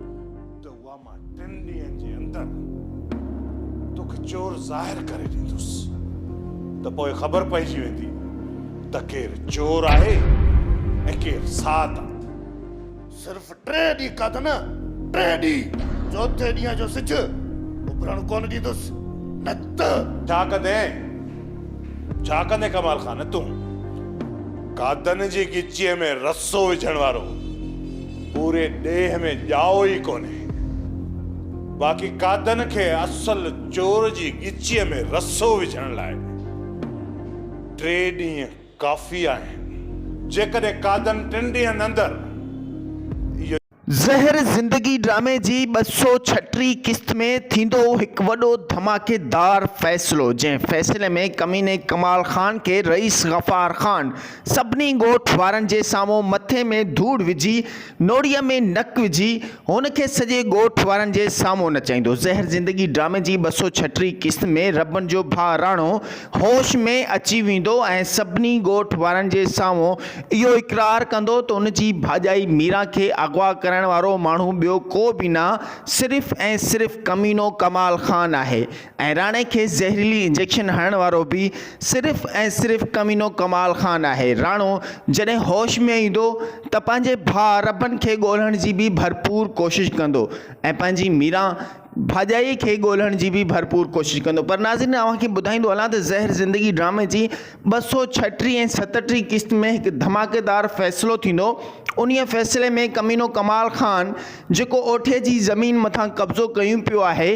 ته اها مان ٽن ڏينهن جي اندر توکي چور ظاهر ڪري ڏيندس ته پوء خبر پئجي ويندي ته ڪير چور آهي ۽ ڪير سات صرف ٽي ڏينهن کاڌ نه ٽي ڏينهن چوٿين ڏينهن جو سج اڀرڻ ڪونه ڏيندس نه ته ڇا ڪندين ڇا ڪندين ڪمال خان تون گادن جي ڳچيء ۾ رسو وجهڻ وارو پوري ڏيهه ۾ ڄائو ئي ڪونهي. باقي قادن کي اصل چور جي ڳچيء ۾ رسو وجهڻ لاء ٽي ڏينهن ڪافي آهن. جيڪڏهن قادن ٽن ڏينهن اندر اهو. زهر زندگي ڊرامي جي ٻه سؤ ڇٽيهه قسط ۾ ٿيندو هڪ وڏو ڌماڪيدار فيصلو جنهن فيصلي ۾ ڪميني ڪمال خان کي رئيس غفار خان سڀني ڳوٺ وارن جي سامهون مٿي ۾ ڌوڙ وجهي، نوڙيء ۾ نڪ وجهي، هن کي سڄي ڳوٺ وارن جي سامهون نچائيندو. زهر زندگي ڊرامي جي ٻه سؤ ڇهه ٽي قسط ۾ ربن جو ڀاء راڻو هوش ۾ اچي ويندو ۽ سڀني ڳوٺ وارن جي سامهون اهو اقرار ڪندو ته ان جي ڀاڄائي ميران کي اغوا ڪرڻ وارو ماڻهو ٻيو ڪو به نه صرف ۽ صرف ڪمينو ڪمال خان آهي ۽ راڻي کيس زهريلي انجيڪشن هڻڻ وارو به صرف ۽ صرف ڪمينو ڪمال خان آهي. راڻو جڏهن هوش ۾ ايندو ته پنهنجي ڀاء ربن کي ڳولهڻ جي به ڀرپور ڪوشش ڪندو ۽ پنهنجي ميران ڀاڄائي کي ڳولهڻ جي به ڀرپور ڪوشش ڪندو پر ناظرين اوهان کي ٻڌائيندو هلان ته زهر زندگي ڊرامي جي ٻه سؤ ڇهٽيهه ۽ ستٽيهه قسط ۾ هڪ ڌماڪيدار فيصلو ٿيندو انهي فيصلي ۾ ڪمينو ڪمال خان جيڪو اوٺي جي زمين مٿان قبضو ڪيون پيو آهي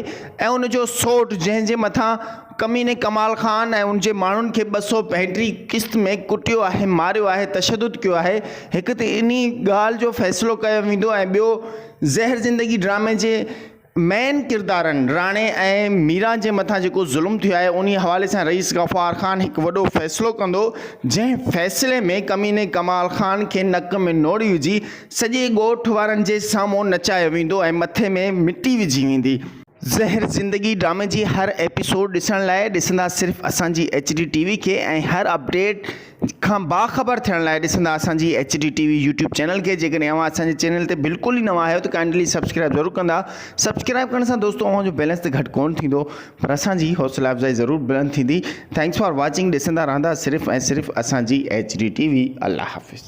۽ ان جو سوٽ جنهن جي مٿان ڪميني ڪمال خان ۽ ان جي ماڻهن کي ٻه سؤ پنجٽيهه قسط ۾ ڪٽيو آهي ماريو آهي تشدد ڪيو آهي هڪ ته انهي ڳالهه جو فيصلو ڪيو ويندو ۽ ٻيو زهر زندگي ڊرامي جي مين ڪردارن راڻي ۽ ميران جي مٿان جيڪو ظلم ٿيو آهي انهي حوالي سان رئيس غفار خان هڪ وڏو فيصلو ڪندو جنهن فيصلي ۾ ڪميني ڪمال خان کي نڪ ۾ نوڙي وجهي سڄي ڳوٺ وارن جي سامهون نچايو ويندو ۽ مٿي ۾ مٽي وجهي ويندي. زهر زندگي ڊرامي جي هر ايپيسوڊ ڏسڻ لاء ڏسندا صرف اسان جي ايچ ڊي ٽي وي کي ۽ هر اپڊيٽ کان باخبر ٿيڻ لاء ڏسندا اسان جي H D T V YouTube channel کي جيڪڏهن اوهان اسان جي چينل تي بلڪل ئي نوان آهيو ته ڪائنڊلي سبسڪرائب ضرور ڪندا سبسڪرائب ڪرڻ سان دوستو اوهان جو بيلنس ته گهٽ ڪونه ٿيندو پر اسان جي حوصلا افزائي ضرور بلند ٿيندي ٿينڪس فار واچنگ ڏسندا رهندا صرف ۽ صرف اسان جي ايڇ ڊي ٽي وي الله حافظ